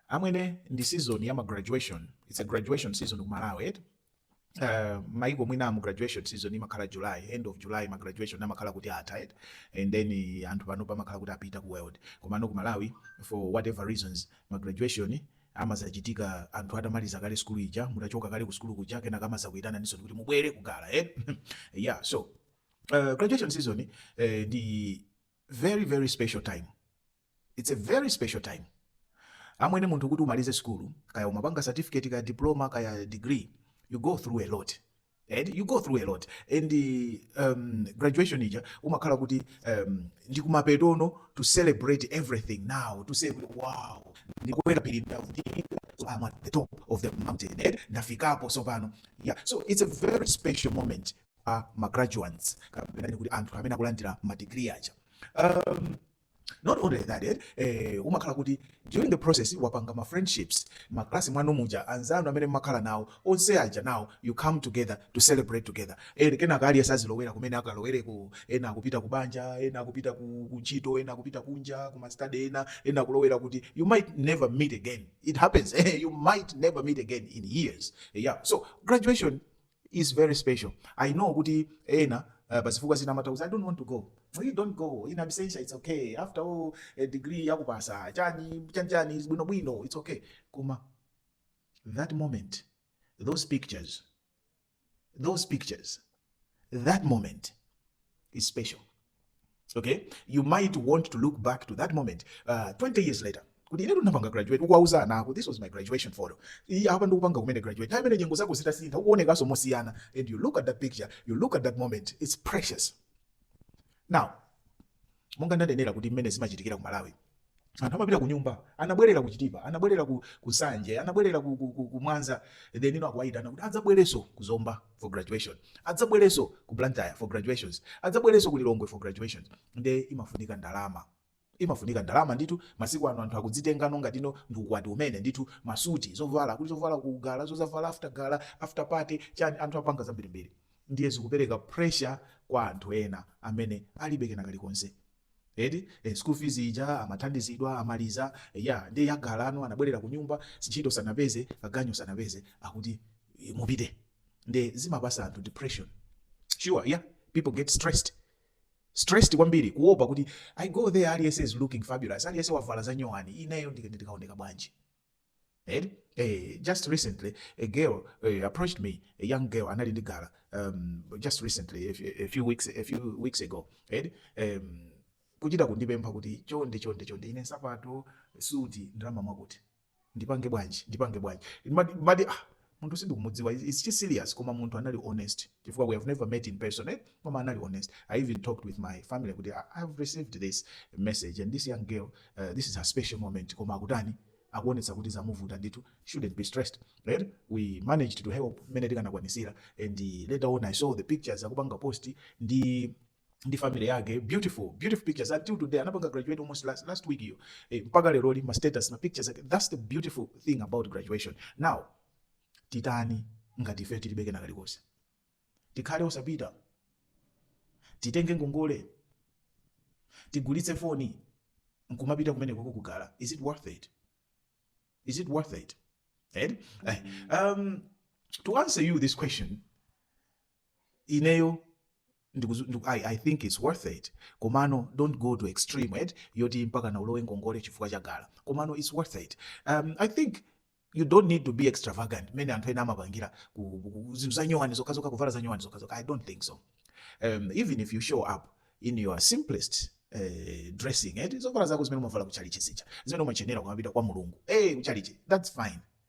amwene ndi season ya ma graduation it's a graduation season ku malawi eti Uh, maiko ena graduation season imakhala july end of july ma graduation amakhala kuti atha eti and then eh, anthu pano pamakhala kuti apita ku world komano ku malawi for whatever reasons ma graduation amazachitika anthu atamaliza kale skulu ija mutachoka kale ku skulu kuja kenaka amazakuitananinso kuti mubwere ku gala eh? yeah so uh, graduation season eh, ndi very very special time It's a very special time amwene munthu kuti umalize sukulu kaya umapanga certificate kaya diploma kaya degree you go through a lot and you go through a lot and um, graduation ija umakhala kuti um, ndi kumapetono to celebrate everything now to say wow ndimakwera phiri ndafika so I'm at the top of the mountain and ndafikapo sopano yeah so it's a very special moment a uh, magraduates kapena kuti anthu amene akulandira madigiri aja um, not only that eh, eh, umakhala kuti during the process wapanga ma friendships mkalasi mwanu muja anzanu amene mmakhala nawo onse aja now you come together to celebrate together eh, kenaka aliyense azilowera kumene akalowereko ena akupita ku banja ena akupita ku ku ntchito ena akupita kunja ku ma study ena ena akulowera kuti you might never meet again it happens eh, you might never meet again in years yeah so graduation is very special i know kuti ena uh, pazifukwa zina amatha kuza i don't want to go you don't go in absentia it's okay after all a degree yakupasa chani chani chani bwino bwino it's okay koma that moment those pictures those pictures that moment is special okay you might want to look back to that moment uh, 20 years later kuti inetu ndinapanga graduate ukuwauza ana ako this was my graduation photo iyi apa ndikupanga kumene graduate nthawi imeneyo nyengo zako zitasintha ukuonekanso mosiyana and you look at that picture you look at that moment it's precious now monga ndanenera kale kuti mmene zimachitikira ku malawi anthu amapita kunyumba anabwerera ku chitipa anabwerera ku, ku nsanje anabwerera ku, ku, ku, ku mwanza then no akuwayitana kuti adzabwerenso ku zomba for graduation adzabwerenso ku blantyre for graduations adzabwerenso ku lilongwe for graduations nde imafunika ndalama imafunika ndalama ndithu masiku ano anthu akuzitengano ngatino ndi ukwati umene ndithu masuti zovala kuti zovala ku gala zozavala after gala after party chani anthu apanga zambirimbiri ndiye zikupereka pressure kwa anthu ena amene alibe kena kalikonse eti eh, school fees ija amathandizidwa amaliza eh, ya ndiye ya galano anabwerera ku nyumba ntchito sanapeze kaganyu sanapeze akuti eh, mupite ndiye zimapasa anthu depression sure yeah people get stressed stressed kwambiri kuopa kuti i go there aliyense is looking fabulous aliyense wavala za nyowani ineyo ndikaoneka bwanji eh? Eh, just recently a girl eh, approached me a young girl anali ndi gala um, just recently a, few- a few weeks a few weeks ago eh? um, kuchita kundipempha kuti chonde chonde chonde ine nsapato suti ndalama mwakuti ndipange bwanji ndipange bwanji Ndimati- ndimati, ah, munthu sindikumudziwa it's just serious koma munthu anali honest chifukwa we have never met in person eh? koma anali honest i even talked with my family kuti i have received this message and this young girl uh, this is her special moment koma akutani akuonetsa kuti zamuvuta ndithu shouldn't be stressed right? we managed to help mmene tikanakwanisira and later on i saw the pictures akupanga post ndi ndi family yake beautiful beautiful pictures until today anapanga graduate almost last, last week iyo eh, mpaka lero ali ma status ma pictures ake that's the beautiful thing about graduation now titani ngati ife tilibe kena kalikonse tikhale osapita titenge ngongole tigulitse foni nkumapita kumene koko kugala is it worth it is it worth it eh? Eh, um, to answer you this question ineyo ndikuzu- ndiku- I, i think its worth it komano don't go to extreme eti yoti mpakana ulowe ngongole chifukwa cha gala komano its worth it um, i think you don't need to be extravagant mmene anthu ena amapangira ku- ku- ku- zinthu zanyowani zokhazokha kuvala zanyowani zokhazokha i don't think so um, even if you show up in your simplest uh, dressing eh, zovala zako zimene umavala kuchalichi zija zimene umachenera kumapita kwa mulungu hey, kuchalichi that's fine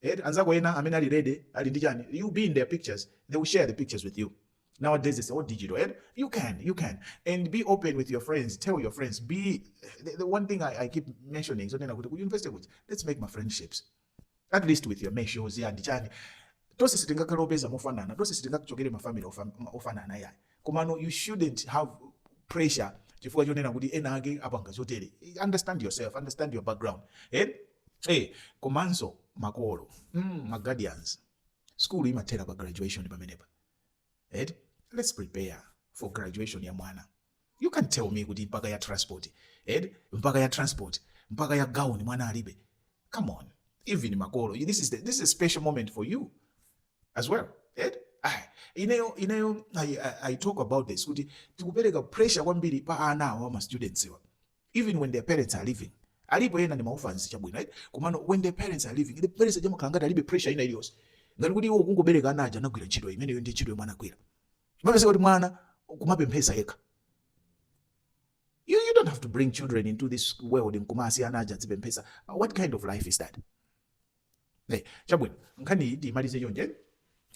eti anzako ena amene ali ready ali ndi chani you be in their pictures they will share the pictures with you nowadays it's all digital eti you can you can and be open with your friends tell your friends because the, the one thing I, i keep mentioning zonena kuti ku university kuti let's make ma friendships at least with your meshos and chani tonse sitingakhale opeza mofanana tonse sitingachokere mafamily ofam- ofanana yayi Komano you shouldn't have pressure chifukwa chonena kuti ena ake apanga zotere. Understand yourself, understand your background. Eh? Eh, komanso makolo, mm, ma guardians. School imathera pa graduation pamenepa. Eh? Let's prepare for graduation ya mwana. You can't tell me kuti mpaka ya transport. Eh? Mpaka ya transport, mpaka ya gown mwana alibe. Come on. Even makolo, this is the, this is a special moment for you. as well eti ayi ineyo ineyo I, I, i talk about this kuti tikupereka pressure kwambiri pa ana awo ma students wa even when their parents are living alipo ena ndi ma orphans chabwino right komano when their parents are living the parents aja amakhala ngati alibe pressure ina iliyonse ngati kuti iwo kungobereka ana aja anagwira ntchito imeneyo ndi ntchito yomwe anagwira umapeza kuti mwana kumapemphesa yekha you, you don't have to bring children into this world nkumasiya ana aja adzipemphesa what kind of life is that Hey, chabwino nkhani imalize chonje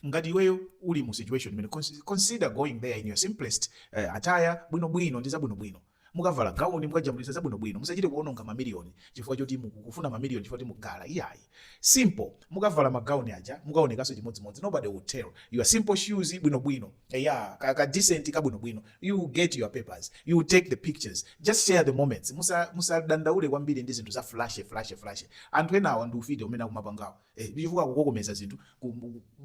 ngati iweyo uli mu situation imeneyi consider going there in your simplest uh, attire bwino bwino ndi zabwino bwino mukavala gauni mukajambulisa zabwino bwino musachite kuononga mamiliyoni chifukwa choti mukufuna mamiliyoni chifukwa choti mugala iyayi simple mukavala magauni aja mukaonekanso chimodzimodzi nobody will tell your simple shoes bwino bwino eya ka, ka decent kabwino bwino you will get your papers you will take the pictures just share the moments musadandaule musa kwambiri ndi zinthu za flashy flashy flashy anthu enawa ndi ufiti umene akumapangawo eh, chifukwa kukokomeza zinthu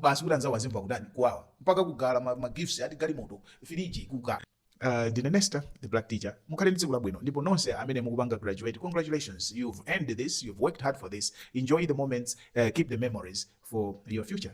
basi kuti anzawo azimva kutani kuwawa mpaka kugula magifts ma ati galimoto firiji kugula Uh, ndine nesta the black teacher mukhale ndi tsiku labwino ndipo nonse amene mukupanga graduate congratulations you've earned this you've worked hard for this enjoy the moments uh, keep the memories for your future